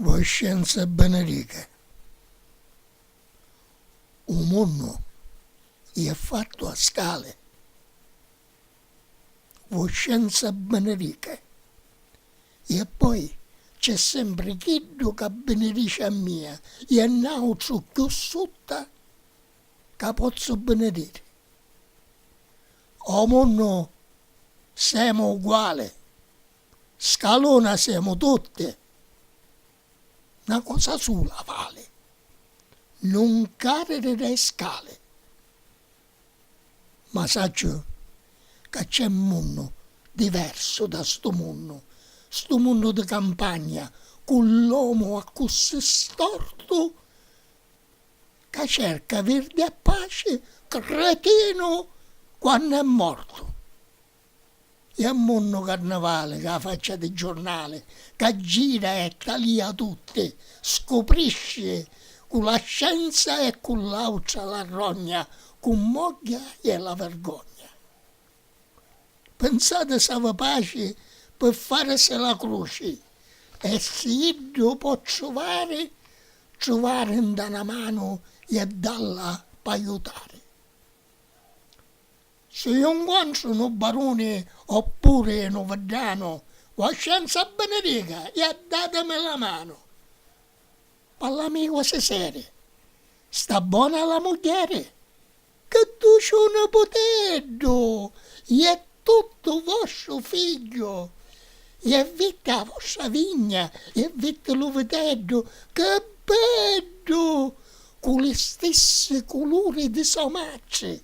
Voscenza benedica, u munnu iè fattu a scali. Voscenza benedica, iè poi c'è sempri chiddu ca binidici a mia, iè nautru cchiù sutta ca pozzu binidiri. O munnu semu uguali. scalona semu tutti, 'na cosa sula vali, nun cariri dê scali. Ma sacciu ca c'è 'n munnu diversu da 'stu munnu, 'stu munnu di campagna cu l'omu accussì stortu ca cerca virdi e paci, cretinu quannu è mortu. E a munnu carnavali ca faccia di giurnali ca gira e talia tutti scuprisci cu la scienza e cu l'autra la rogna cu mogghia e la vergogna pinsati s'avi paci pi farisi la cruci e si iddu po truvari truvari nta na manu e dalla paiutari. Si ju 'ncontru nu baruni o puri nu viddanu, Voscenza benedica e addatimi la manu. Pallamicu si seri, sta bona la mugghieri? Chi duciu niputeddu! Iè tuttu vostru figghiu! Iè vitti a vostra vigna, iè vitti lu viteddu, chi beddu! Cu li stissi culuri di so matri.